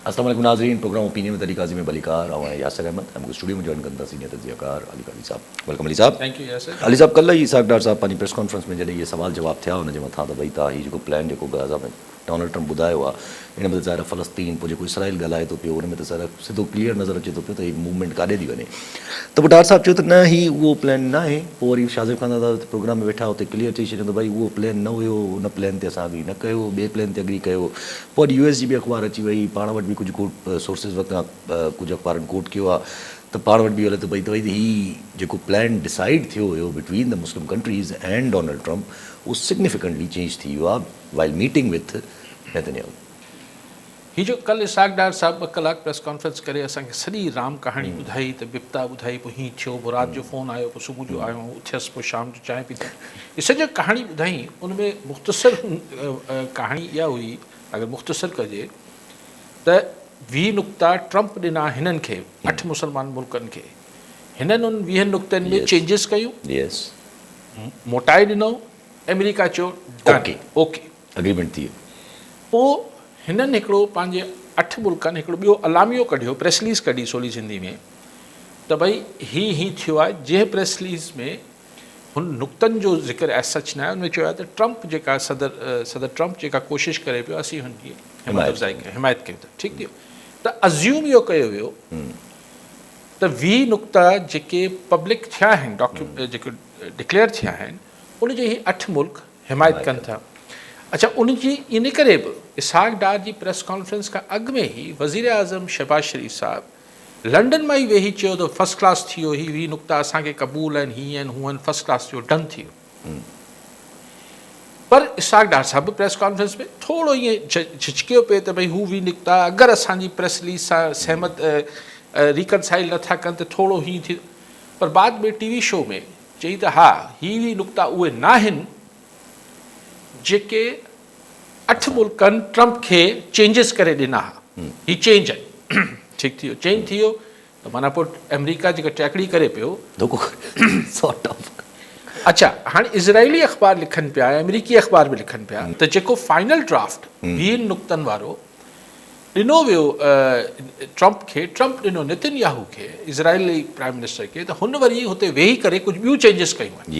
السلام عليڪم ناظرين programme opinion with Ali Qazi ۾ به علي ڪار آئون آهيان ياسر احمد ۽ مون کي اسٽوڊيو ۾ جوائن ڪن ٿا سينيئر تجزيه ڪار علي قاضي صاحب ويلڪم علي صاحب ٿينڪ يو ياسر علي صاحب ڪلهه ئي اسحاق ڊار صاحب پنهنجي پريس ڪانفرنس ۾ جڏهن اهي سوال جواب ٿيا ان جي مٿان ته وئي ته هي جيڪو پلان جيڪو غزا ۾ ڊونلڊ ٽرمپ ٻڌايو آهي ان ۾ ته ظاهر آهي فلسطين پوء جيڪو اسرائيل ڳالهائي ٿو پيو ان ۾ ته ظاهر آهي سڌو ڪليئر نظر اچي ٿو پيو ته هي موومينٽ ڪاڏي ٿي وڃي ته پوء ڊار صاحب چيو ته نه هي اهو پلان نه آهي پوء وري شاهزيب خان دادا هتي پروگرام ۾ ويٺا هتي ڪليئر چئي ڇڏيو ته ڀائي اهو پلان نه هيو ان پلان تي اسان اگري نه ڪيو ٻئي پلان تي اگري ڪيو پوء اڄ يو ايس جي ٻي اخبار اچي وئي پاڻ وٽ به ڪجهه ڪوٽ سورسز وتان ڪجهه اخبارن ڪوٽ ڪيو آ ته پاڻ وٽ به اهو لڌو پئي ته ڀئي هي جيڪو پلان ڊسائيڊ ٿيو هيو between the Muslim countries and Donald Trump اهو سگنيفيڪنٽلي چينج ٿي ويو آ وائل ميٽنگ وٿ نيتنياهو. هي جو ڪل اسحاق ڊار صاحب ٻه ڪلاڪ پريس ڪانفرنس ڪري اسان کي سڄي رام ڪهاڻي ٻڌائي ته بپتا ٻڌائي پوء هيئن ٿيو پوء رات جو فون آيو پوء صبح جو آيو اٿيس پوء شام جو چانهه پيتي هي سڄا ڪهاڻي ٻڌائين ان ۾ مختصر ڪهاڻي اها هئي اگر مختصر ڪجي ته ويهه نقطا ٽرمپ ڏنا هنن کي اٺ مسلمان ملڪن کي هنن ان ويهن نقطن ۾ چينجز ڪيون موٽائي ڏنو آمريڪا چيو ڊن اوڪي اگريمينٽ ٿي ويو پوء هنن هڪڙو پنهنجي اٺ ملڪن هڪڙو ٻيو اعلاميو ڪڍيو پريس رليز ڪڍي سولي سنڌي ۾ ته ڀئي هي هي ٿيو آهي جنهن پريس رليز ۾ هن نقطن جو ذڪر as such ناهي، هن چيو آهي ته ٽرمپ جيڪا صدر صدر ٽرمپ جيڪا ڪوشش ڪري پيو اسين هن جي همت افزائي ڪيون حمايت ڪيون ٿا ٺيڪ ٿيو ته Assume اهو ڪيو ويو ته ويهه نقطا جيڪي پبلڪ ٿيا آهن ڊاڪيومينٽ جيڪي ڊڪليئر ٿيا آهن ان جي هي اٺ ملڪ حمايت ڪن ٿا اڇا ان جي ان ڪري به اسحاق ڊار جي پريس ڪانفرنس کان اڳ ۾ هي وزيراعظم شهباز شريف صاحب لنڊن مان ئي ويهي چيو ته فرسٽ ڪلاس ٿي ويو هي هي نقطا اسان کي قبول آهن هي آهن هو آهن فرسٽ ڪلاس ٿي ويو ڊن ٿي ويو پر اسحاق ڊار صاحب به پريس ڪانفرنس ۾ ٿورو ائين جھجھڪيو پئي ته ڀئي هو وي نقطا اگر اسان جي پريس رليز سان سهمت ريڪنسائل نه ٿا ڪن ته ٿورو هي ٿي پر بعد ۾ ٽي وي شو ۾ چئي ته ها هي وي نقطا اهي ناهن جيڪي اٺ ملڪن ٽرمپ کي چينجز ڪري ڏنا ها هي چينج آهي ٺيڪ ٿي ويو چينج ٿي ويو ته معنيٰ پوء آمريڪا جيڪا ٽيڪڙي ڪري پيو ڌڪ سارٽ آف اڇا هاڻي اسرائيلي اخبار لکن پيا ۽ آمريڪي اخبار به لکن پيا ته جيڪو فائنل ڊرافٽ ويهن نقطن وارو ڏنو ويو ٽرمپ کي ٽرمپ ڏنو نتن ياهو کي اسرائيلي پرائم منسٽر کي ته هن وري هتي ويهي ڪري ڪجهه ٻيون چينجز ڪيون آهن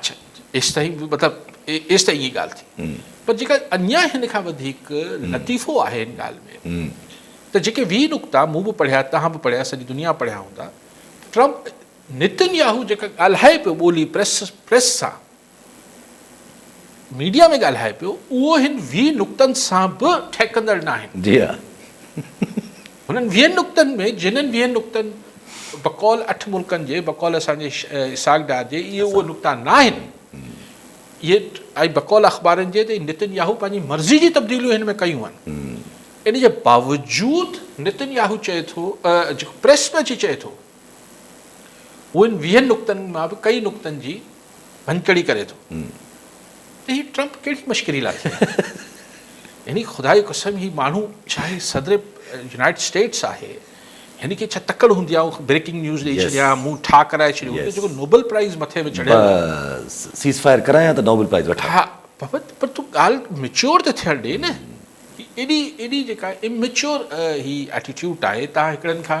اڇا ايستائين مطلب ايستائين ائين ڳالهه ٿي پر جيڪا اڃا هن کان وڌيڪ لطيفو آهي هن ڳالهه ۾ ته جيڪي ويهه نقطا مون به پڙهيا توهان به پڙهيا سڄي دنيا پڙهيا هوندا ٽرمپ نتن ياهو جيڪا ڳالهائي پيو ٻولي پريس پريس سان ميڊيا ۾ ڳالهائي پيو اهو هن ويهه نقطن سان به ٺهڪندڙ ناهن جي ها هنن ويهن نقطن ۾ جنھن ويهن نقطن بقول اٺ ملڪن جي بقول اسان جي اسحاق ڊار جي اهي اهي نقطا نه آهن اهي ۽ بقول اخبارين جي ته نتن ياهو پنھنجي مرضي جي تبديليون هن ۾ ڪيون آهن ان جي باوجود نتن ياهو چئي ٿو جيڪو پريس ۾ اچي چئي ٿو هو ان ويهن نقطن مان به ڪئي نقطن جي ڀڃڪڙي ڪري ٿو ته هي ٽرمپ ڪهڙي مشڪري لاء ٿي آهي يعني خدا جي قسم هي ماڻهو چاهي صدر يونائيٽيڊ اسٽيٽس آهي هن کي ڇا تڪڙ هوندي آهي بريڪنگ نيوز ڏئي ڇڏيا مون ٺا ڪرائي ڇڏيو هن جيڪو نوبل پرائز مٿي ۾ چڙهيل بس سيز فائر ڪرايان ته نوبل پرائز وٺان ها بابت پر تون ڳالهه ميچيور ته ٿيڻ ڏي نه هي ايڏي ايڏي جيڪا اميچيور هي ايٽيٽيوڊ آهي تان هڪڙن کان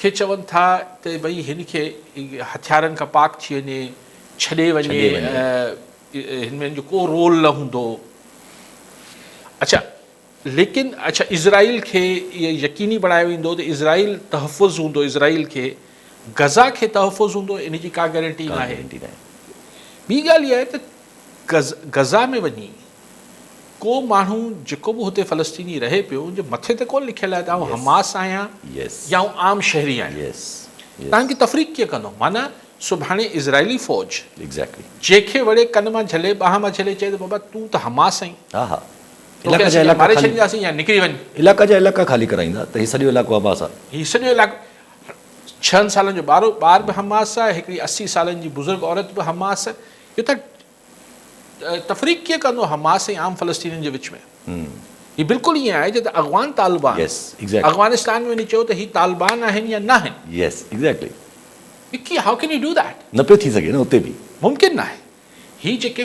کي چون ٿا ته ڀئي هن کي هٿيارن کان پاڪ ٿي وڃي ڇڏي وڃي هن ۾ هن جو ڪو رول نه هوندو اڇا ليڪن اڇا اسرائيل کي اهي يقيني بڻايو ويندو ته اسرائيل تحفظ هوندو اسرائيل کي غزا کي تحفظ هوندو ان جي ڪا گارنٽي ناهي ٻي ڳالهه اها آهي ته غزا ۾ وڃي ڪو ماڻهو جيڪو به هتي فلسطيني رهي پيو ان جي مٿي تي ڪونه لکيل آهي ته آئون حماس آهيان يا آئون عام شهري آهيان تنهن جي تفريق ڪيئن ڪندو معنيٰ سڀاڻي اسرائيلي فوج جنهن کي وڙي ڪن مان جهلي ٻانهن مان جهلي چئي ته بابا تون ته حماس آهين توکي اسين يا ماري ڇڏينداسين يا نڪري وڃ علائقا جا علائقا خالي ڪرائيندا ته هي سڄو علائقو حماس آهي هي سڄو علائقو ڇهن سالن جو ٻارو ٻار به حماس آهي هڪڙي اسي سالن جي بزرگ عورت به حماس اهو ته تفريق ڪيئن ڪندو حماس ۽ عام فلسطينين جي وچ ۾؟ هي بلڪل ائين آهي جيئن اغوان طالبان اغوانستان ۾ وڃي چيو ته هي طالبان آهن يا ناهن. وڪي how can you do that؟ نه پيو ٿي سگهي نه اتي به. ممڪن ناهي. هي جيڪي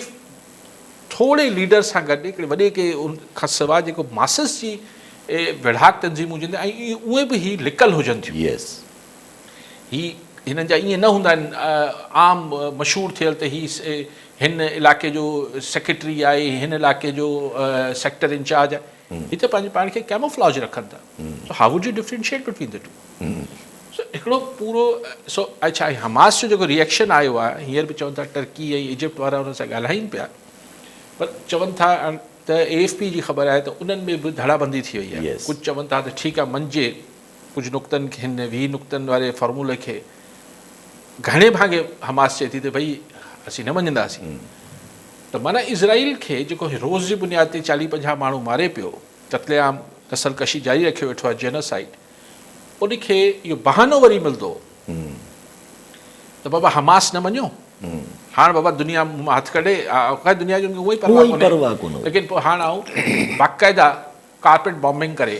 ٿوري ليڊر سان گڏ هڪڙي وڏي ڪي ان کان سواء جيڪو ماسس جي ويڙهاڪ تنظيمون هجن ۽ اهي اهي به هي لڪل هجن ٿيون. هي هنن جا ائين نه هوندا آهن عام مشهور ٿيل ته هي هن علائقي جو سيڪريٽري آهي هن علائقي جو سيڪٽر انچارج آهي هي ته پنهنجي پاڻ کي ڪيموفلاج رکن ٿا so how would you differentiate between the two سو هڪڙو پورو سو اڇا حماس جو جيڪو ريئڪشن آيو آهي هينئر به چون ٿا ٽرڪي ۽ ايجپٽ وارا هن سان ڳالهائين پيا پر چون ٿا ته اي ايف پي جي خبر آهي ته انهن ۾ به ڌڙا بندي ٿي وئي آهي ڪجهه چون ٿا ته ٺيڪ آهي منجي ڪجهه نقطن کي هن ويهه نقطن واري فارمولي کي گهڻي ڀاڱي حماس چئي ٿي ته ڀئي اسين نه مڃنداسين ته معنيٰ اسرائيل کي جيڪو هي روز جي بنياد تي چاليهه پنجاهه ماڻهو ماري پيو قتل عام نسل ڪشي جاري رکيو ويٺو آهي جينوسائيڊ ان کي اهو بهانو وري ملندو ته بابا حماس نه مڃيو هاڻ بابا دنيا مون مان هٿ ڪڍي خير دنيا جي ان کي اونئي پرواهه ڪونهي ليڪن پوء هاڻ آئون باقاعده ڪارپيٽ بامبنگ ڪري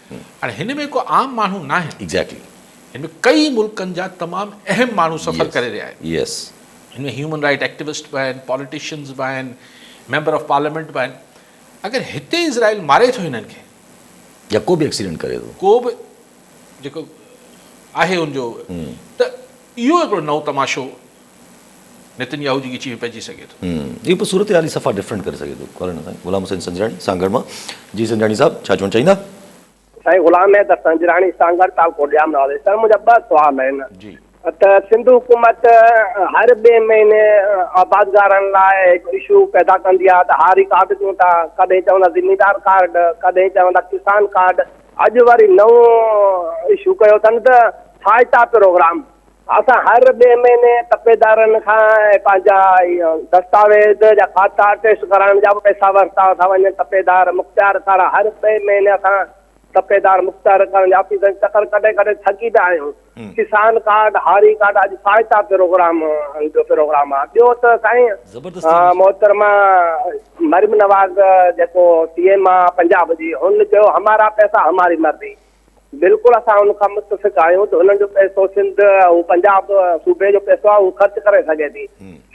هاڻي هن ۾ ڪو عام ماڻهو ناهن. ايگزيڪٽلي. هن ۾ ڪيئي ملڪن جا تمام اهم ماڻهو سفر ڪري رهيا آهن. يس. هن ۾ هيومن رائيٽ ايڪٽيوسٽ به آهن، پاليٽيشنز به آهن، ميمبر آف پارليامينٽ به آهن. اگر هتي اسرائيل ماري ٿو هنن کي. يا ڪو به ايڪسيڊنٽ ڪري ٿو. ڪو به جيڪو آهي ان جو ته اهو هڪڙو نئون تماشو نتن ياهو جي ڳچيء ۾ پئجي سگهي ٿو. اهو پوء صورتحال ئي صفا ڊفرنٽ ڪري سگهي ٿو. ڪالهه نه سائين غلام حسين سنجراڻي سانگهڙ مان جي سنجراڻي صاحب ڇا چوڻ چاهيندا؟ سائين غلام حيدر سنجراڻي سانگهڙ تعلقو ڄام نوابي سر منهنجا ٻه سوال آهن ته سنڌ حڪومت هر ٻئي مهيني آبادگارن لاء هڪ اشو پيدا ڪندي آهي ته هاري ڪارڊ ڏيون ٿا ڪڏهن چوندا زميندار ڪارڊ ڪڏهن چوندا ڪسان ڪارڊ اڄ وري نئون اشو ڪيو اٿن ته ٿائتا پروگرام اسان هر ٻئي مهيني تپيدارن کان پنهنجا دستاويز يا کاتا ٽيسٽ ڪرائڻ جا به پئسا ورتا ٿا وڃن. تپيدار مختيار ڪارا هر ٻئي مهيني اسان تپيدار مختيار ڪارا جي آفيسن جو چڪر ڪٽي ڪٽي ٿڪي پيا آهيون. ڪسان ڪارڊ، هاري ڪارڊ اڄ فائتا پروگرام جو پروگرام آهي. ٻيو ته سائين محترمه مريم نواز جيڪو سي ايم آهي پنجاب جي هن چيو همارا پئسا هماري مرضي. بلڪل اسان ان کان متفق آهيون ته انهن جو پئسو سنڌ ۽ پنجاب صوبي جو پئسو آهي اهو خرچ ڪري سگهي ٿي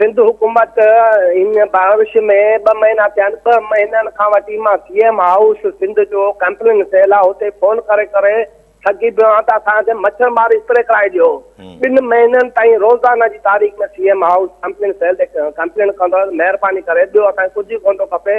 سنڌ حڪومت ان بانوش ۾ ٻه مهينا ٿيا آهن ٻه مهينن کان وٺي مان سي ايم هائوس سنڌ جو ڪمپلين سيل آهي اتي فون ڪري ڪري ٿڪي پيو آهيان ته اسان کي مڇر مار اسپري ڪرائي ڏيو ٻن مهينن تائين روزانه جي تاريخ ۾ C M house complaint cell تي ڪمپلين ڪندو آهي مهرباني ڪري ٻيو اسان کي ڪجهه به ڪونه ٿو کپي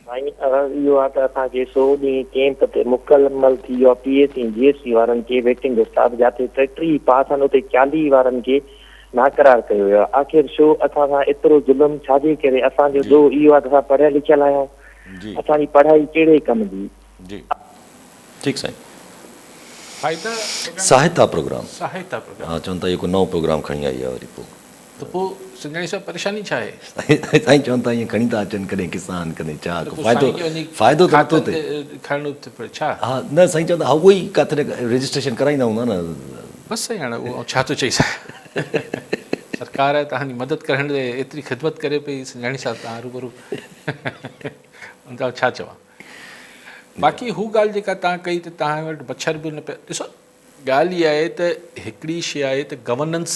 سائين عرض اهو آ ته اسان کي سو ڏينهن ڪيمپ تي مڪمل ٿي ويو آ P S C ۽ G S C وارن کي ويٽنگ اسٽاف جاتي ٽيٽري ئي پاس آهن اتي چاليهي وارن کي ناقرار ڪيو ويو آ آخر شو اسان سان ايترو ظلم ڇاجي ڪري اسان جو ڏوهه اهو آ ته اسان پڙهيل لکيل آهيون اسان جي پڙهائي ڪهڙي ڪم جي. ٺيڪ سائين ساهتا پروگرام ساهتا پروگرام ها چون ٿا اهو ڪو نئون پروگرام کڻي آئي آهي وري پو. ته پوء سنڌياڻي صاحب پريشاني ڇا آهي؟ سائين چون ٿا ايئن کڻي ٿا اچن ڪڏهن ڪسان ڪڏهن چاڪ فائدو فائدو ته نٿو ٿئي کڻڻو ٿو پوي ڇا؟ ها نه سائين چون ٿا اهو ئي ڪاٿي نه رجسٽريشن ڪرائيندا هوندا نه بس سائين هاڻي اهو آئون ڇا ٿو چئي سگهان سرڪار آهي توهان جي مدد ڪرڻ لاء ايتري خدمت ڪري پئي سنڌياڻي صاحب توهان روبرو ان کان ڇا چوان باقي هو ڳالهه جيڪا توهان ڪئي ته توهان وٽ مڇر به نه پيا ڏسو ڳالهه اها آهي ته هڪڙي شي آهي ته گورننس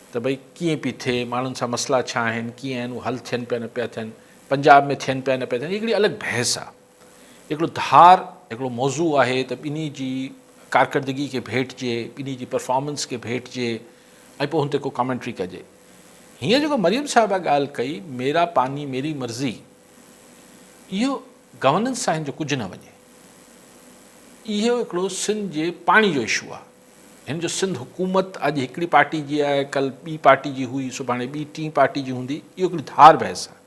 ته ڀئي ڪيئن پي ٿئي، ماڻهن سان مسئلا ڇا آهن، ڪيئن آهن، اهي حل ٿين پيا نه پيا ٿين، پنجاب ۾ ٿين پيا نه پيا ٿين، هي هڪڙي الڳ بحث آهي. هڪڙو ڌار هڪڙو موضوع آهي ته ٻنهي جي ڪارڪردگي کي ڀيٽجي، ٻنهي جي پرفارمنس کي ڀيٽجي ۽ پوء هن تي ڪو ڪامينٽري ڪجي. هينئر جيڪو مريم صاحبه ڳالهه ڪئي ميرا پاني ميري مرضي اهو گورننس سان هن جو ڪجهه نه وڃي. اهو هڪڙو سنڌ جي پاڻي جو اشو آهي. هن جو سنڌ حڪومت اڄ هڪڙي پارٽي جي آهي، ڪل ٻي پارٽي جي هئي، سڀاڻي ٻي ٽين پارٽي جي هوندي، اهو هڪڙي ڌار بحث آهي.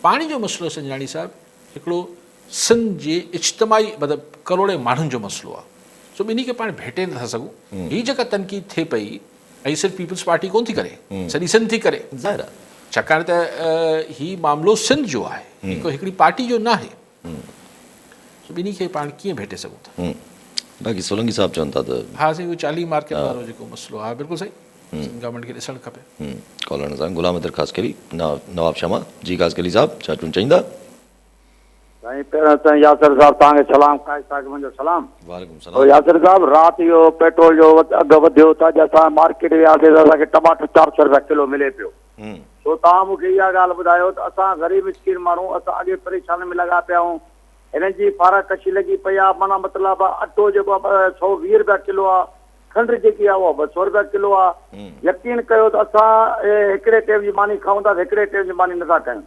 پاڻي جو مسئلو سنجراڻي صاحب هڪڙو سنڌ جي اجتماعي مطلب ڪروڙين ماڻهن جو مسئلو آهي، سو ٻنهي کي پاڻ ڀيٽي نٿا سگهون. هي جيڪا تنقيد ٿئي پئي، هي صرف پيپلز پارٽي ڪونه ٿي ڪري، سڄي سنڌ ٿي ڪري. ظاهر آهي. ڇاڪاڻ ته هي معاملو سنڌ جو آهي، هڪڙي پارٽي جو ناهي. سو ٻنهي کي پاڻ ڪيئن ڀيٽي سگهون ٿا. باقي سولنگي صاحب چون ٿا ته. ها سائين اهو چاليهه مارڪيٽ وارو جيڪو مسئلو ها بلڪل سائين سنڌ گورنمينٽ کي ڏسڻ کپي. ڪالر نظام غلام حيدر خاصخيلي نواب شمع جي خاصخيلي صاحب ڇا چون چئيندا. سائين پهريان سائين ياسر صاحب توهان کي سلام قائد صاحبن جو سلام وعليڪم سلام ياسر صاحب رات اهو پيٽرول جو اگهه وڌيو ته اڄ اسان مارڪيٽ وياسي ته اسان کي ٽماٽو چار سئو روپيا ڪلو ملي پيو سو توهان مون کي اها ڳالهه ٻڌايو ته اسان غريب مسڪين ماڻهو اسان اڳي پريشانين ۾ لڳا پيا آهيون هنن جي فارغ ڪشي لڳي پئي آهي معنيٰ مطلب آهي اٽو جيڪو آهي ٻه سؤ ويهه رپيا ڪلو آهي کنڊ جيڪي آهي اها ٻه سؤ رپيا ڪلو آهي يقين ڪيو ته اسان هڪڙي ٽيم جي ماني کائون ٿا هڪڙي ٽيم جي ماني نٿا کايون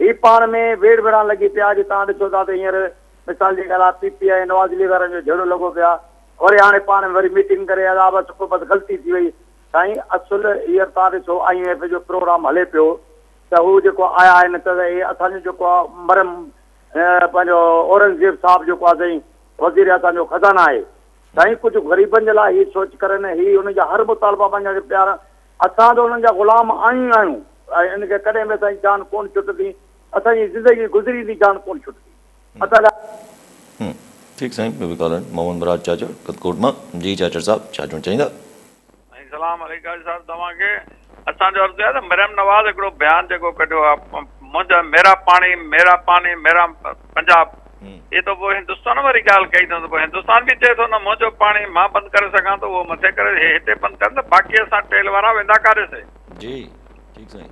هي پاڻ ۾ ويڙهه وڙهڻ لڳي پيا اڄ تان ڏسو ٿا ته هينئر مثال جي ڳالهه آهي P P I Nawaz League وارن جو جهيڙو لڳو پيو آهي وري هاڻي پاڻ ۾ وري ميٽنگ ڪري عذاب سڪو بس غلطي ٿي وئي سائين اصل هينئر توهان ڏسو آء ايم ايف جو پروگرام هلي پيو ته هو جيڪو آيا آهن ته هي اسان جو جيڪو آهي مرحوم پنهنجو اورنگزيب صاحب جيڪو آهي سائين وزير اسان جو خزانه آهي سائين ڪجهه غريبن جي لاء هي سوچ ڪرن هي انهن جا هر مطالبا مڃڻ کي تيار آهن اسان ته انهن جا غلام آهيون ئي آهيون ۽ ان کي ڪڏهن به اسان جي جان ڪونه ڇٽندي اسان جي زندگي گذري ويندي جان ڪونه ڇٽندي. ٺيڪ سائين ٻيو به ڪالر آهن محمد مراد چاچڙ ڪٿڪوٽ مان جي چاچڙ صاحب ڇا چوڻ چاهيندا. سائين سلام عليڪ قاضي صاحب توهان کي اسان جو عرض آهي ته مريم نواز هڪڙو بيان جيڪو ڪڍيو آهي منهنجا ميرا پاڻي ميرا پاڻي ميرا پنجاب اهي ته پوء هندستان واري ڳالهه ڪئي اٿن ته پوء هندستان به چئي ٿو نه منهنجو پاڻي مان بند ڪري سگهان ٿو اهو مٿي ڪري اهي هتي بند ڪن ته باقي اسان ٽيل وارا ويندا ڪاڏي سي جي ٺيڪ سائين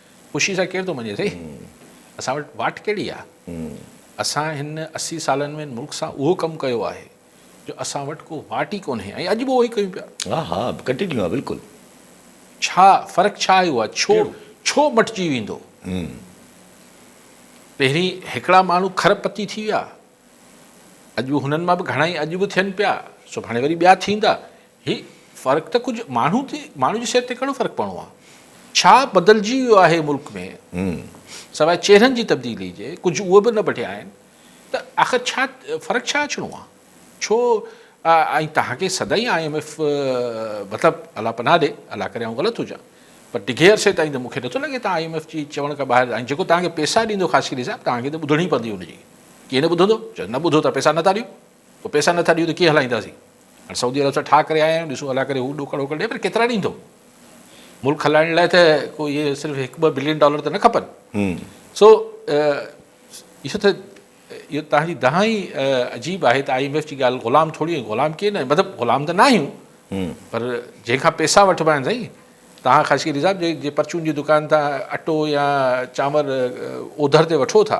خوشي سان ڪير ٿو مڃي سائين اسان وٽ واٽ ڪهڙي آ اسان هن اسي سالن ۾ هن ملڪ سان اهو ڪم ڪيو آهي جو اسان وٽ ڪو واٽ ئي ڪونهي ۽ اڄ به اهو ئي ڪيون پيا ها ها ڪنٽينيو آ بلڪل ڇا فرق ڇا آيو آ ڇو ڇو مٽجي ويندو پهرين هڪڙا ماڻهو کرب پتي ٿي ويا اڄ هنن مان به گهڻائي اڄ به ٿين پيا سڀاڻي وري ٻيا ٿيندا هي فرق ته ڪجهه ماڻهو تي ماڻهو جي صحت تي ڪهڙو فرق پوڻو آهي ڇا بدلجي ويو آهي ملڪ ۾ سواء چهرن جي تبديلي جي ڪجهه اهي به نه بٺيا آهن ته آخر ڇا فرق ڇا اچڻو آهي ڇو ۽ تهان کي سدائين آء ايم ايف مطلب الله پناهه ڏي الله ڪري آئون غلط هجان پر ڊگهي عرصي تائين ته مونکي نٿو لڳي تان آء ايم ايف جي چوڻ کان ٻاهر جيڪو تهان کي پيسا ڏيندو خاص ڪري صاحب تهان کي ته ٻڌڻي پوندي ان جي ڪيئن نه ٻڌندو؟ چيس نه ٻڌو ته پئسا نه ٿا ڏيون، پوء پئسا نه ٿا ڏيون ته ڪيئن هلائينداسين؟ هاڻ سعودي عرب سان ٺاهه ڪري آيا آهيون، ڏسون هلائي ڪري هو ڏوڪڙ ووڪڙ ڏئي پر ڪيترا ڏيندو؟ ملڪ هلائڻ لاء ته ڪو اهي صرف هڪ ٻه بلين ڊالر ته نه کپن. سو اهو ته اهو توهان جي دانهن ئي عجيب آهي ته آء ايم ايف جي ڳالهه غلام ٿوري آهيون، غلام ڪيئن نه آهيون، مطلب غلام ته نه آهيون پر جنهن کان پئسا وٺبا آهن سائين، توهان خاصخيلي صاحب جي پرچون جي دڪان تان اٽو يا چانور اوڌر تي وٺو ٿا،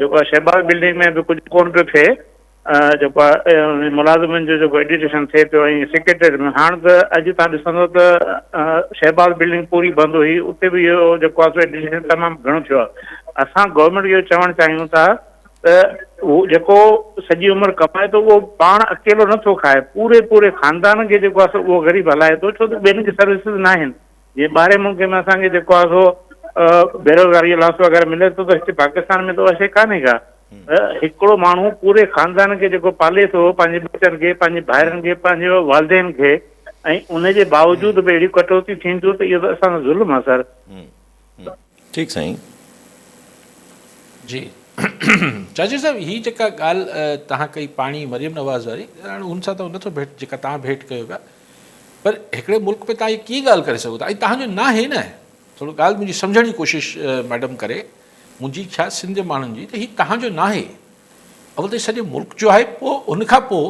جيڪو آهي شهباز بلڊنگ ۾ به ڪجهه ڪونه پيو ٿئي جيڪو آهي ملازمن جو جيڪو ايجيوڪيشن ٿئي پيو ۽ سيڪريٽريٽ ۾ هاڻ ته اڄ تان ڏسندو ته شهباز بلڊنگ پوري بند هئي اتي به اهو جيڪو آهي سو ايجيوڪيشن تمام گهڻو ٿيو آهي اسان گورنمينٽ کي اهو چوڻ چاهيون ٿا ته هو جيڪو سڄي عمر ڪمائي ٿو اهو پاڻ اڪيلو نٿو کائي پوري پوري خاندان کي جيڪو آهي سو اهو غريب هلائي ٿو ڇو ته ٻين کي سروسز ناهن جي ٻاهرين ملڪن ۾ اسان کي جيڪو آهي سو بيروزگاري جو لاسو وغيره ملي ٿو ته هتي پاڪستان ۾ ته اها شيء ڪانهي ڪا هڪڙو ماڻهو پوري خاندان کي جيڪو پالي ٿو پنهنجي ٻچن کي پنهنجي ڀائرن کي پنهنجي والدين کي ۽ ان جي باوجود به اهڙي ڪٽوتي ٿين ٿيون ته اهو ته اسان سان ظلم آهي سر ٺيڪ سائين. جي چاچي صاحب هي جيڪا ڳالهه توهان ڪئي پاڻي مريم نواز واري هاڻي هن سان ته نٿو ڀيٽ جيڪا توهان ڀيٽ ڪيو پيا پر هڪڙي ملڪ ۾ توهان هي ڪيئن ڳالهه ڪري سگهو ٿا ۽ توهان جو ناهي نه ٿورو ڳالهه منهنجي سمجهڻ جي ڪوشش ميڊم ڪري منهنجي ڇا سنڌ جي ماڻهن جي ته هي توهان جو ناهي اول ته سڄي ملڪ جو آهي پوء ان کان پوء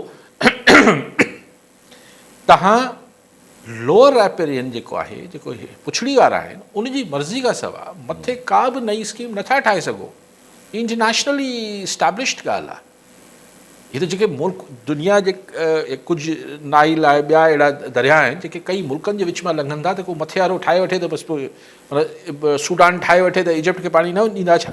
توهان لوئر رائپيرين جيڪو آهي، جيڪو پڇڙي وارا آهن، ان جي مرضي کان سوا مٿي ڪا به نئين اسڪيم نه ٿا ٺاهي سگهو. هي انٽرنيشنلي اسٽيبلشڊ ڳالهه آهي. هي ته جيڪي ملڪ دنيا جي ڪجهه نائل آهي، ٻيا اهڙا درياء آهن، جيڪي ڪئين ملڪن جي وچ مان لنگهن ٿا ته ڪو مٿي وارو ٺاهي وٺي ته بس پوء سوڊان ٺاهي وٺي ته ايجپٽ کي پاڻي نه ڏيندا ڇا؟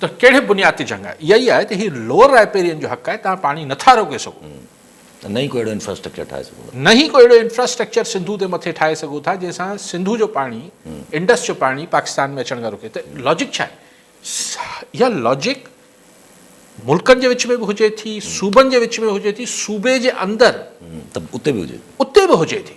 ته ڪهڙي بنياد تي جنگ آهي؟ اها ئي آهي ته هي لوئر رائپيرين جو حق آهي، توهان پاڻي نه ٿا روڪي سگهو. ته نه ئي ڪو اهڙو انفراسٽرڪچر ٺاهي سگهو ٿا. نه ئي ڪو اهڙو انفراسٽرڪچر سنڌو تي مٿي ٺاهي سگهو ٿا جنهن سان سنڌو جو پاڻي، انڊس جو پاڻي پاڪستان ۾ اچڻ کان روڪي. ته لاجڪ ڇا آهي؟ اها لاجڪ ملڪن جي وچ ۾ به هجي ٿي، صوبن جي وچ ۾ هجي ٿي، صوبي جي اندر. ته اتي به هجي ٿي. اتي به هجي ٿي.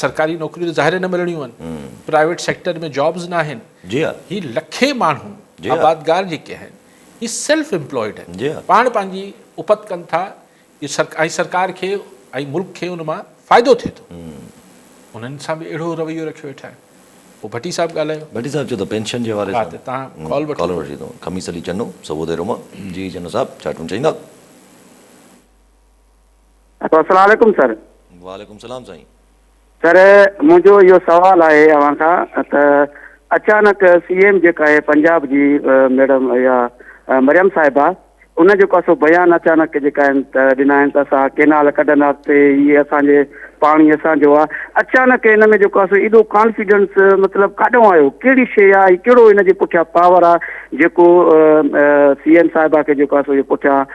سرڪاري نوڪريون ته ظاهر نه ملڻيون آهن، پرائيويٽ سيڪٽر ۾ جابز ناهن، هي لکين ماڻهو آبادگار جيڪي آهن هي سيلف امپلائيڊ آهن پاڻ پنهنجي اپت ڪن ٿا ۽ سرڪار کي ۽ ملڪ کي ان مان فائدو ٿئي ٿو انهن سان به اهڙو رويو رکيو ويٺا آهن پوء ڀٽي صاحب ڳالهايو ڀٽي صاحب چيو ته پينشن جي حوالي سان تان ڪال وٺو خميس علي چنو سووڌي روما جي چنو صاحب ڇا ٽون چئيندا. السلام عليڪم سر. وعليڪم سلام سائين. سر منهنجو اهو سوال آهي اوهان کان ته اچانڪ سي ايم جيڪا آهي پنجاب جي ميڊم اها مريم صاحبه ان جيڪو سو بيان اچانڪ جيڪا آهن ته ڏنا آهن ته اسان ڪينال ڪڍنداسي هي اسان جي پاڻي اسان جو آهي اچانڪ ان ۾ جيڪو سو ايڏو ڪانفيڊنس مطلب ڪاڏو آيو ڪهڙي شي آهي ۽ ڪهڙو ان جي پٺيان پاور آهي جيڪو سي ايم صاحبه کي جيڪو سو پٺيان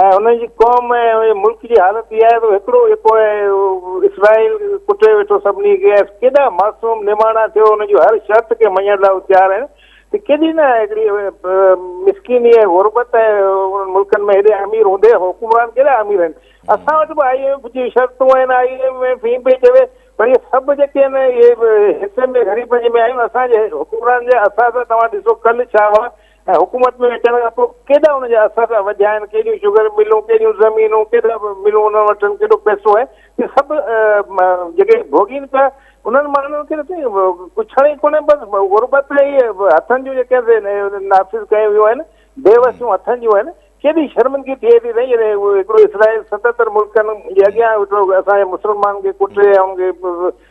۽ انهن جي قوم ۽ ملڪ جي حالت اها آهي ته هڪڙو يڪو اسرائيل ڪٽي ويٺو سڀني کي ۽ ڪيڏا معصوم نماڻا ٿيو انهن جون هر شرط کي مڃڻ لاء هو تيار آهن ته ڪيڏي نه هڪڙي مسڪيني ۽ غربت ۽ انهن ملڪن ۾ هيڏي امير هوندي حڪمران ڪيڏا امير آهن اسان وٽ به آئي ايم ايف جي شرطون آهن آئي ايم ايف هي پئي چوي پر اهي سڀ جيڪي آهن اهي حصن ۾ غريبن جي ۾ آهيون اسان جي حڪمران جي اسان سان توهان ڏسو ڪل ڇا هئا ۽ حڪومت ۾ اچڻ کان پوء ڪيڏا ان جا اثر وڌيا آهن، ڪيڏيون شگر ملون، ڪيڏيون زمينون، ڪيڏا ملون انهن وٽ آهن، ڪيڏو پئسو آهي، اهي سڀ جيڪي ڀوڳين پيا انهن ماڻهن کي ته سائين پڇڻ ئي ڪونهي، بس غربت ۽ اهي هٿن جون جيڪي نافذ ڪيون ويون آهن، بي وسيون هٿن جون آهن، ڪيڏي شرمندگي ٿئي ٿي سائين جڏهن هڪڙو اسرائيل ستتر ملڪن جي اڳيان اسان جي مسلمانن کي ڪٽي ۽ انهن کي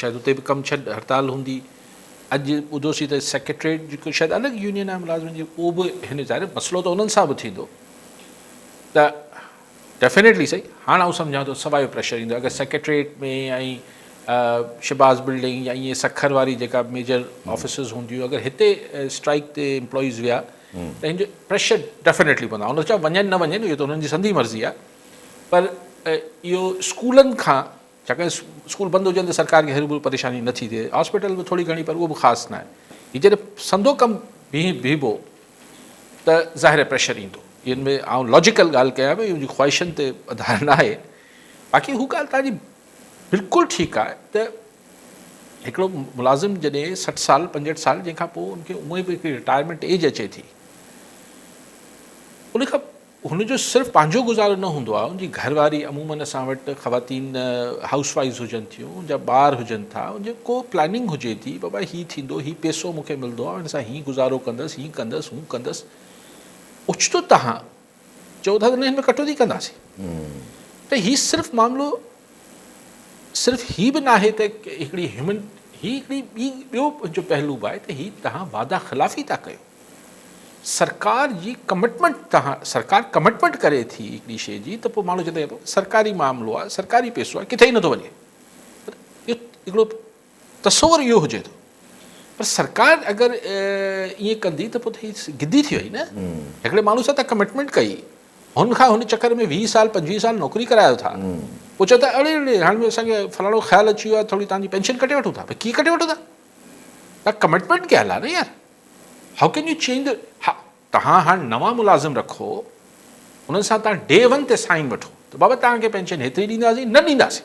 شايد اتي به ڪم ڇڏ هڙتال هوندي. اڄ ٻڌو سين ته سيڪريٽريٽ جيڪو شايد الڳ يونين آهي ملازمن جي اهو به هن ظاهر مسئلو ته انهن سان به ٿيندو ته ڊيفينيٽلي سهي هاڻ آئون سمجهان ٿو سوايو پريشر ايندو اگر سيڪريٽريٽ ۾ ۽ شباز بلڊنگ يا ائين سکر واري جيڪا ميجر آفيسز هونديون اگر هتي اسٽرائيڪ تي امپلائيز ويا ته هن جو پريشر ڊيفينيٽلي پوندو آئون نٿو چوان وڃن نه وڃن اهو ته انهن جي سندي مرضي آهي پر اهو اسڪولن کان ڇاڪاڻ اسڪول بند هجن ته سرڪار کي هروڀرو پريشاني نه ٿي ٿئي، هاسپيٽل به ٿوري گهڻي پر اهو به خاص ناهي. هي جڏهن سندو ڪم بيهي بيهبو ته ظاهر پريشر ايندو. ان ۾ آئون لاجيڪل ڳالهه ڪيان پيو، ان جي خواهشن تي اڌار ناهي. باقي هو ڳالهه توهان جي بلڪل ٺيڪ آهي ته هڪڙو ملازم جڏهن سٺ سال پنجهٺ سال جنهن کان پوء ان کي اونئي به هڪڙي رٽائرمينٽ ايج اچي ٿي ان کان هن جو صرف پنهنجو گذارو نه هوندو آهي، ان جي گهر واري عموماً اسان وٽ خواتين هائوس وائيز هجن ٿيون، ان جا ٻار هجن ٿا، ان جي ڪو پلاننگ هجي ٿي، بابا هي ٿيندو، هي پيسو مون کي ملندو، آئون هن سان هي گذارو ڪندس، هي ڪندس، هو ڪندس. اوچتو توهان چئو ٿا ته نه هن ۾ ڪٽوتي ڪنداسين ته هي صرف معاملو صرف هي به ناهي ته هڪڙي هيومن هي هڪڙي ٻي ٻيو جو پهلو به آهي ته هي تهان وعده خلافي ٿا ڪيو سرڪار جي ڪمٽمنٽ تهان سرڪار ڪمٽمنٽ ڪري ٿي هڪڙي شي جي ته پوء ماڻهو چوندو سرڪاري معاملو آهي سرڪاري پيسو آهي ڪٿي ئي نٿو وڃي پر هڪڙو تصور اهو هجي ٿو پر سرڪار اگر ائين ڪندي ته پوء هي گدي ٿي وئي نه هڪڙي ماڻهو سان تان ڪمٽمينٽ ڪئي هن کان هن چڪر ۾ ويهه سال پنجويهه سال نوڪري ڪرايو ٿا پوء چئو ٿا اڙي اڙي هاڻي اسان کي فلاڻو خيال اچي ويو آهي ٿوري تان جي پينشن ڪٽي وٺون ٿا پر ڪيئن ڪٽي وٺو ٿا تان ڪمٽمينٽ ڪيل آهي نه يار هاء ڪين يو چينج ها تان هاڻي نوان ملازم رکو انهن سان تان ڊي ون تي سائن وٺو ته بابا تان کي پينشن هيتري ڏينداسين نه ڏينداسين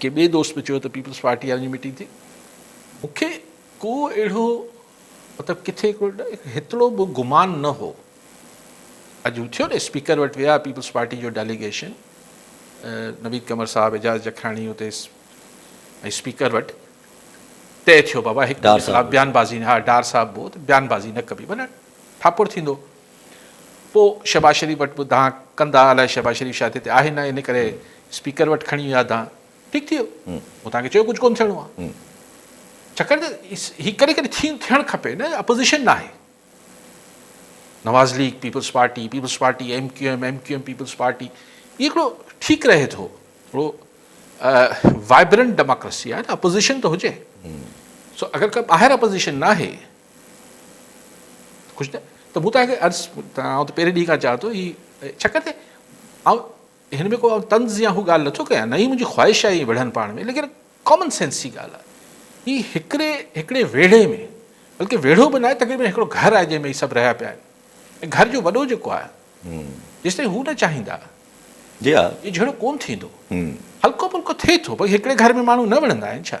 ڪنهن ٻئي دوست به چيو ته پيپلز پارٽي وارن جي ميٽنگ ٿي. مون کي ڪو اهڙو مطلب ڪٿي ڪو هيترو به گمان نه هو. اڄ هو ٿيو نه اسپيڪر وٽ ويا پيپلز پارٽي جو ڊيليگيشن نويد قمر صاحب اعجاز جکاڻي اتي اسپيڪر وٽ طئي ٿيو بابا هڪ ڏار صاحب بيان بازي ها ڊار صاحب بو بيان بازي نه ڪبي ڀلي ٺاڪر ٿيندو. پوء شهباز شريف وٽ به دانهن ڪندا الاء شهباز شريف شايد هتي آهي نه ان ڪري اسپيڪر وٽ کڻي ويا دانهن ٺيڪ ٿي ويو مون توهان کي چيو ڪجهه ڪون ٿيڻو آهي ڇاڪاڻ ته هي ڪڏهن ڪڏهن ٿي ٿيڻ کپي نه اپوزيشن نه آهي Nawaz League Peoples Party Peoples Party M Q M M Q M Peoples Party هي هڪڙو ٺيڪ رهي ٿو هڪڙو وائبرنٽ ڊيموڪريسي آهي نه اپوزيشن ته هجي سو اگر ڪا ٻاهر اپوزيشن نه آهي خوش نه ته مون توهان کي عرض ته آئون ته پهرين ڏينهن کان چاهيان ٿو هي ڇڪ تي آئون هن ۾ ڪو آئون طنز يا هو ڳالهه نٿو ڪيان نه هي منهنجي خواهش آهي ائين وڙهن پاڻ ۾ ليڪن ڪامن سينس جي ڳالهه آهي هي هڪڙي هڪڙي ويڙهي ۾ بلڪه ويڙهو به ناهي تقريبن هڪڙو گهر آهي جنهن ۾ هي سڀ رهيا پيا آهن ۽ گهر جو وڏو جيڪو آهي جيستائين هو نه چاهيندا جي ها اهو جهيڙو ڪونه ٿيندو هلڪو پلڪو ٿئي ٿو باقي هڪڙي گهر ۾ ماڻهو نه وڙهندا آهن ڇا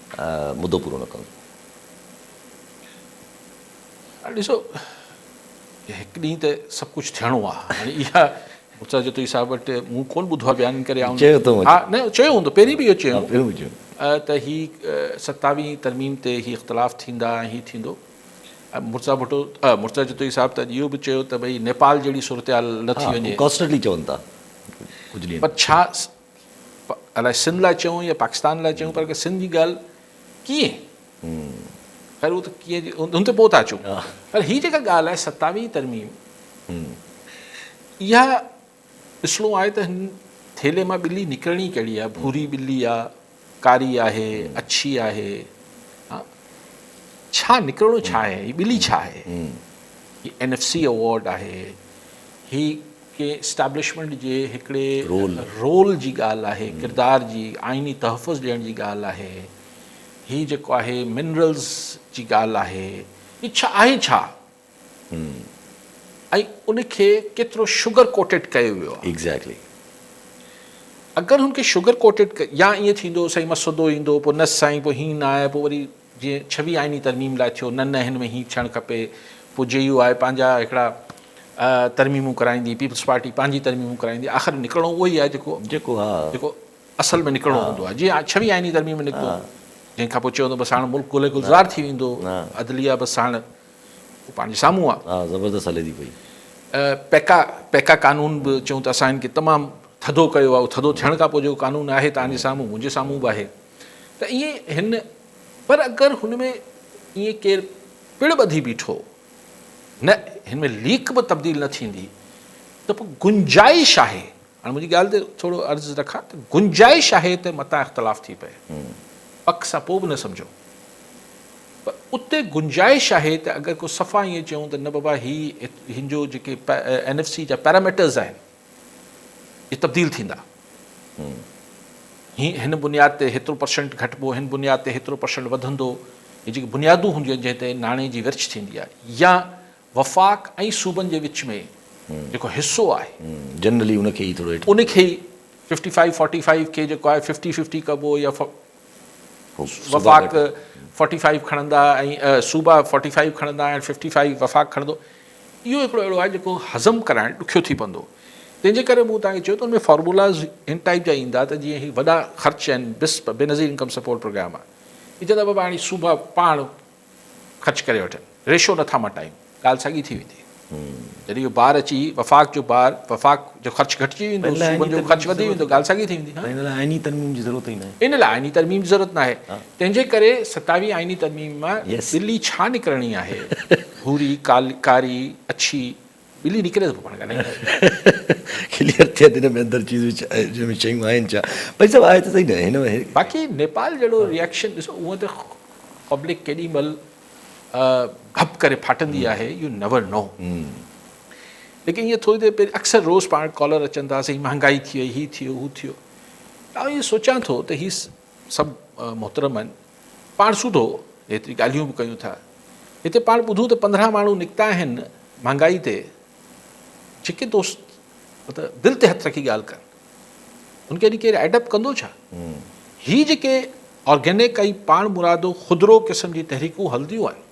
مدو پورو نه ڪندو. هاڻي ڏسو هڪ ڏينهن ته سڀ ڪجهه ٿيڻو آ هاڻي اها مرتضيٰ جتوئي صاحب وٽ مون ڪون ٻڌو آ بيان ڪري آئون چيو اٿئون ها نه چيو هوندو پهرين به اهو چيو ها پهرين به چيو ته هي ستاويهين ترميم تي هي اختلاف ٿيندا ۽ هي ٿيندو مرتضيٰ ڀٽو مرتضيٰ جتوئي صاحب ته اهو به چيو ته ڀئي نيپال جهڙي صورتحال نه ٿي وڃي ڪانسٽنٽلي چون ٿا پر ڇا الاء سنڌ لاء چيون يا پاڪستان لاء چيون پر سنڌ جي ڳالهه ڪيئن خير هو ته ڪيئن هن تي پوء ٿا اچون پر هي جيڪا ڳالهه آهي ستاويهين ترميم اها ڏسڻو آهي ته هن ٿيلهي مان ٻلي نڪرڻي ڪهڙي آهي ڀوري ٻلي آهي ڪاري آهي، اڇي آهي، ڇا نڪرڻو ڇا آهي، هي ٻلي ڇا آهي، هي اين ايف سي ايوارڊ آهي، هي ڪنهن اسٽيبلشمينٽ جي هڪڙي رول جي ڳالهه آهي، ڪردار جي، آئيني تحفظ ڏيڻ جي ڳالهه آهي، هي جيڪو آهي منرلز جي ڳالهه آهي، هي ڇا آهي ڇا؟ ۽ ان کي ڪيترو شگر ڪوٽيڊ ڪيو ويو آهي. ايگزيڪٽلي. اگر هن کي شگر ڪوٽيڊ ڪي يا ائين ٿيندو سائين مسودو ايندو پوء نه سائين پوء هيئن نه آهي پوء وري جيئن ڇويهه آئيني ترميم لاء ٿيو نه نه هن ۾ هيئن ٿيڻ کپي پوء جي يو آء پنهنجا هڪڙا ترميمون ڪرائيندي پيپلز پارٽي پنهنجي ترميمون ڪرائيندي آخر نڪرڻو اهو ئي آهي جيڪو جيڪو ها جيڪو اصل ۾ نڪرڻو هوندو آهي جيئن ڇويهه آئيني ترميم نڪتو جنهن کان پوء چيو بس هاڻ ملڪ گل گلزار ٿي ويندو عدليه بس هاڻ هو پنهنجي سامهون آ. ها زبردست هلي ٿي پئي. پيڪا پيڪا قانون به چون ته اسان هن کي تمام ٿڌو ڪيو آهي ٿڌو ٿيڻ کان پوء جيڪو قانون آهي تهان جي سامهون منهنجي سامهون به آهي ته ائين هن پر اگر هن ۾ ائين ڪير پڙ ٻڌي بيٺو نه هن ۾ ليڪ به تبديل نه ٿيندي ته پوء گنجائش آهي هاڻي منهنجي ڳالهه تي ٿورو عرض رکان ته گنجائش آهي ته متان اختلاف ٿي پئي پڪ سان پوء به نه سمجهو پر اتي گنجائش آهي ته اگر ڪو صفا ائين چئون ته نه بابا هي هن جو جيڪي اين ايف سي جا پيراميٽرز آهن اهي تبديل ٿيندا هي هن بنياد تي هيترو پرسنٽ گهٽبو هن بنياد تي هيترو پرسنٽ وڌندو هي جيڪي بنيادون هونديون آهن جنهن تي ناڻي جي ورڇ ٿيندي آهي يا وفاق ۽ صوبن جي وچ ۾ جيڪو حصو آهي. جنرلي ان کي ئي ٿورو هيٺ. ان کي ئي ففٽي فائيو فورٽي فائيو کي جيڪو آهي ففٽي ففٽي ڪبو يا وفاق فورٽي فائيو کڻندا ۽ صوبا فورٽي فائيو کڻندا ۽ ففٽي فائيو وفاق کڻندو اهو هڪڙو اهڙو آهي جيڪو هضم ڪرائڻ ڏکيو ٿي پوندو تنهن جي ڪري مون تان کي چيو ته ان ۾ فارمولاز ان ٽائيپ جا ايندا ته جيئن هي وڏا خرچ آهن بسپ بينظير انڪم سپورٽ پروگرام آهي هي چئندا بابا هاڻي صوبا پاڻ خرچ ڪري وٺن ريشو نه ٿا مٽايون ڳالهه ساڳي ٿي ويندي جڏهن اهو بار اچي وفاق جو بار وفاق جو خرچ گهٽجي ويندو صوبن جو خرچ وڌي ويندو ڳالهه ساڳي ٿي ويندي ها ان لاء آئيني ترميم جي ضرورت ئي ناهي ان لاء آئيني ترميم جي ضرورت ناهي تنهن جي ڪري ستاوي آئيني ترميم مان ٻلي ڇا نڪرڻي آهي ڀوري ڪاري اڇي ٻلي نڪري ته پوء پاڻ ڳالهائي ڪري. ڪليئر ٿئي ته هن ۾ اندر چيزون جن ۾ شيون آهن ڇا. ڀائي صاحب آهي ته صحيح نه هن ۾. باقي نيپال جهڙو ريئڪشن ڏسو هونء ته پبلڪ ڪيڏي مهل ڀپ ڪري ڦاٽندي آهي يو نيور نو ليڪن ائين ٿوري دير پهرين اڪثر روز پاڻ ڪالر اچن ٿا سائين مهانگائي ٿي وئي هي ٿي ويو هو ٿي ويو آئون ائين سوچان ٿو ته هي سڀ محترم آهن. پاڻ سوڌو هيتري ڳالهيون به ڪيون ٿا. هتي پاڻ ٻڌون ته پندرهن ماڻهو نڪتا آهن مهانگائي تي. جيڪي دوست مطلب دل تي هٿ رکي ڳالهه ڪن ان کي اڄ ڪير ايڊ اپ ڪندو ڇا؟ هي جيڪي آرگينڪ ۽ پاڻ مرادو خودرو قسم جي تحريڪون هلنديون آهن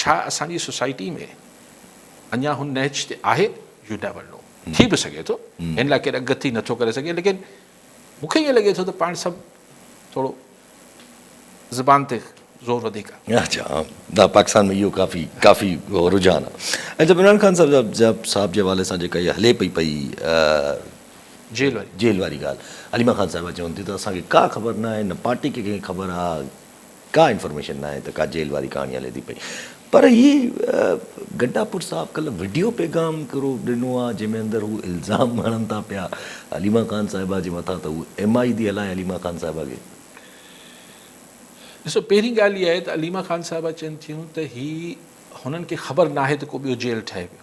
ڇا اسان جي سوسائٽي ۾ اڃا هن نهج تي آهي؟ You never know. ٿي به سگهي ٿو هن لاء ڪير اڳڪٿي نه ٿو ڪري سگهي ليڪن مون کي ائين لڳي ٿو ته پاڻ سڀ ٿورو زبان تي زور وڌيڪ آهي. اچا نه پاڪستان ۾ اهو ڪافي ڪافي رجحان آهي. ۽ جب عمران خان صاحب صاحب جي حوالي سان جيڪا اها هلي پئي پئي جيل واري جيل واري ڳالهه عليما خان صاحبه چون ٿيون ته اسان کي ڪا خبر نه آهي نه پارٽي کي ڪنهن کي خبر آهي ڪا انفارميشن ناهي ته ڪا جيل واري ڪهاڻي هلي ٿي پئي پر هي گڊا پور صاحب ڪلهه وڊيو پيغام هڪڙو ڏنو آ جنهن ۾ اندر هو الزام هڻن ٿا پيا حليمه خان صاحبه جي مٿان ته هو ايم آئي ٿي هلائي حليمه خان صاحبه کي. ڏسو پهرين ڳالهه اها آهي ته عليمه خان صاحبه چين ٿيون ته هي هنن کي خبر ناهي ته ڪو ٻيو جيل ٺهي پيو.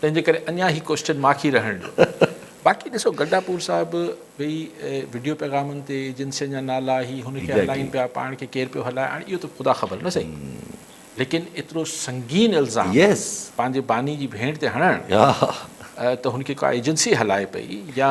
تنهنجي ڪري اڃا هي ڪوئسٽن ماکي رهڻ ڏيو. باقي ڏسو گڊا پور صاحب به وڊيو پيغامن تي ايجنسين جا نالا هي هن کي هلائين پيا پاڻ کي ڪير پيو هلائي هاڻي اهو ته خدا خبر نه سهي ليڪن ايترو سنگين الزام پنهنجي باني جي ڀيڻ تي هڻڻ ته هن کي ڪا ايجنسي هلائي پئي يا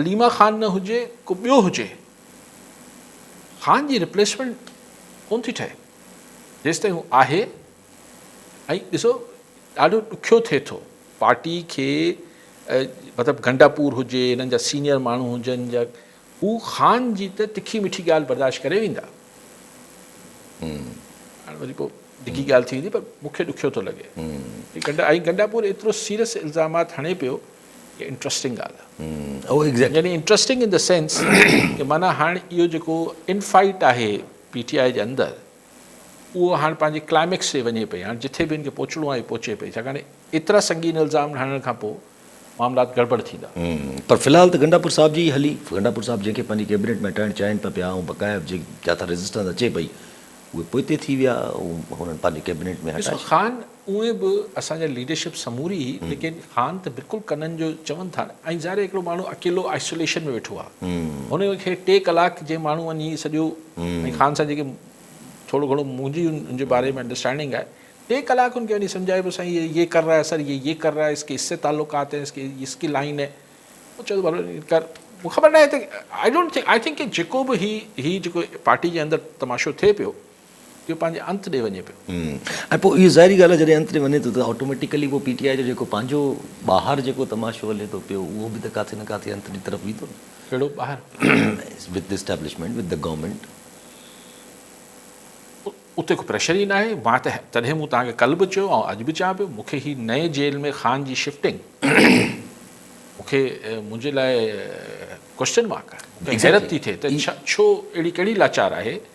عليما خان نه هجي ڪو ٻيو هجي خان جي ريپليسمينٽ ڪون ٿي ٺهي جيستائين هو آهي ۽ ڏسو ڏاڍو ڏکيو ٿئي ٿو پارٽي کي مطلب گنڊا پور هجي هنن جا سينيئر ماڻهو هجن جا هو خان جي ته تکي مٺي ڳالهه برداشت ڪري ويندا هاڻي وري پوء ڊگهي ڳالهه ٿي ويندي پر مونکي ڏکيو ٿو لڳي ۽ گنڊا پور ايترو سيريس الزامات هڻي پيو هي انٽرسٽنگ ڳالهه آهي. اهو ايگزيڪٽلي. يعني انٽرسٽنگ ان دي سينس ڪي معنيٰ هاڻ اهو جيڪو ان فائيٽ آهي پي ٽي آء جي اندر اهو هاڻ پنهنجي ڪلائميڪس تي وڃي پئي هاڻ جٿي به ان کي پهچڻو آهي پهچي پئي ڇاڪاڻ ايترا سنگين الزام هڻڻ کان پوء معاملات گڙٻڙ ٿيندا. پر في الحال ته گنڊاپور صاحب جي ئي هلي گنڊاپور صاحب جنهن کي پنهنجي ڪيبنيٽ ۾ هٽائڻ چاهين ته پيا ۽ بقايا جي جاٿا ريزسٽنس اچي پئي اهي پوئتي ٿي ويا هو هنن پنهنجي ڪيبنيٽ ۾ هٽائي ڏسو خان اونئين به اسان جا ليڊرشپ سموري هئي ليڪن هاڻ ته بلڪل ڪنن جو چون ٿا ۽ ظاهر هڪڙو ماڻهو اڪيلو آئسوليشن ۾ ويٺو آ هن کي ٽي ڪلاڪ جي ماڻهو وڃي سڄو ۽ خان سان جيڪي ٿورو گهڻو منهنجي ان جي باري ۾ انڊرسٽينڊنگ آهي ٽي ڪلاڪ هن کي وڃي سمجهائي پيو سائين هي يه ڪر رها هي سر يه يه ڪر رها هي اس ڪي اس سي تعلقات هين اس ڪي اس ڪي لائين هين هو چوي ٿو ڀلي ڪر مون کي خبر ناهي ته I don't think I think ڪي جيڪو به هي هي جيڪو پارٽي جي اندر تماشو ٿئي پيو جو پنهنجي انت ڏي وڃي پيو. ۽ پوء اهو ظاهري ڳالهه آهي جڏهن انت ڏي وڃي ٿو ته آٽوميٽيڪلي پوء پي ٽي آء جو جيڪو پنهنجو ٻاهر جيڪو تماشو هلي ٿو پيو اهو به ته ڪاٿي نه ڪاٿي انت جي طرف ويندو نه. ڪهڙو ٻاهر؟ With the establishment, with the government. اتي ڪو پريشر ئي ناهي. مان ته تڏهن مون توهان کي ڪلهه به چيو آئون اڄ به چيان پيو مون کي هي نئين جيل ۾ خان جي شفٽنگ مون کي منهنجي لاء ڪوئسچن مارڪ آهي. مون کي حيرت ٿي ٿئي ته ڇو اهڙي ڪهڙي لاچار آهي.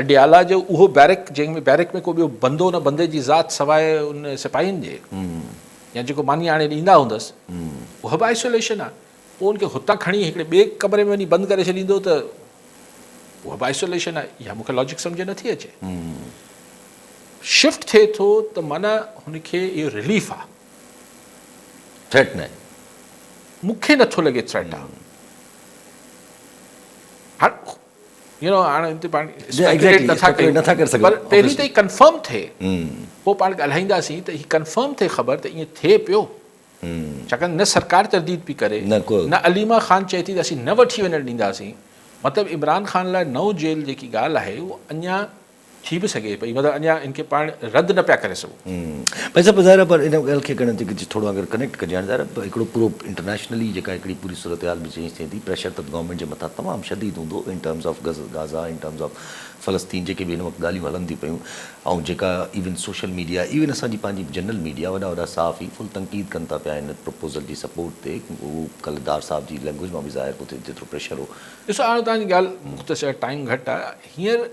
اڊيالا جو اهو بيرڪ جنهن ۾ بيرڪ ۾ ڪو ٻيو بندو نه بندي جي ذات سواء ان سپاهين جي يا جيڪو ماني آڻي ڏيندا هوندس اها به آئسوليشن آهي پوء ان کي هتان کڻي هڪڙي ٻئي ڪمري ۾ وڃي بند ڪري ڇڏيندو ته اها به آئسوليشن آهي اها مون کي لاجڪ سمجهه نٿي اچي شفٽ ٿئي ٿو ته معنيٰ هن کي اهو رليف آهي ٿريٽ نه مون کي نٿو لڳي ٿريٽ آهي يو نو هاڻ هتي پاڻ اسپيڪيوليٽ نٿا ڪيون پر پهرين ته هي ڪنفرم ٿئي پوء پاڻ ڳالهائينداسين ته هي ڪنفرم ٿئي خبر ته ائين ٿئي پيو ڇاڪاڻ نه سرڪار ترديد پئي ڪري نه عليما خان چئي ٿي ته اسين نه وٺي وڃڻ ڏينداسين مطلب عمران خان لاء نو جيل جيڪي ڳالهه آهي اها اڃا ٿي به سگهي پئي مگر اڃا ان کي پاڻ رد نه پيا ڪري سگهون. ڀائي صاحب ظاهر آهي پر ان ڳالهه کي ڪنهن طريقي سان ٿورو اگر ڪنيڪٽ ڪجي هاڻي ظاهر آهي هڪڙو پورو انٽرنيشنلي جيڪا هڪڙي پوري صورتحال به چينج ٿئي ٿي پريشر ته گورنمينٽ جي مٿان تمام شديد هوندو in terms of Gaza in terms of فلسطين جيڪي به هن وقت ڳالهيون هلن ٿيون پيون ۽ جيڪا ايون سوشل ميڊيا ايون اسان جي پنهنجي جنرل ميڊيا وڏا وڏا صحافي فل تنقيد ڪن ٿا پيا ان پروپوزل جي سپورٽ تي اهو ڪلهه ڊار صاحب جي لينگويج مان به ظاهر پيو ٿئي جيترو پريشر هو. ڏسو هاڻي توهان جي ڳالهه مختصر ٽائيم گهٽ آهي هينئر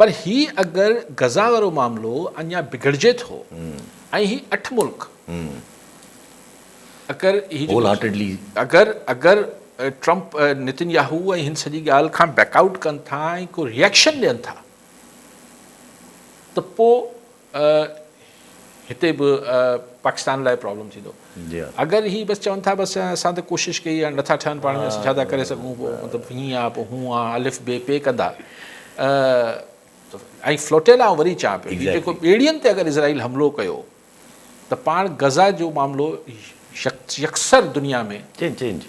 پر هي اگر غزه وارو معاملو اڃا بگڙجي ٿو ۽ هي اٺ ملڪ اگر هي جو اگر اگر ٽرمپ نتن ياهو ۽ هن سڄي ڳالهه کان بيڪ آئوٽ ڪن ٿا ۽ ڪو ريئڪشن ڏين ٿا ته پوء هتي به پاڪستان لاء پرابلم ٿيندو اگر هي بس چون ٿا بس اسان ته ڪوشش ڪئي هاڻي نٿا ٺهن پاڻ ۾ اسان ڇا ٿا ڪري سگهون پوء مطلب هيئن آ پوء هون آ الف بي پي ڪندا ۽ فلوٽيل آئون وري چان پيو هي جيڪو ٻيڙين تي اگر اسرائيل حملو ڪيو ته پاڻ غزا جو معاملو يڪسر دنيا ۾ چينج چينج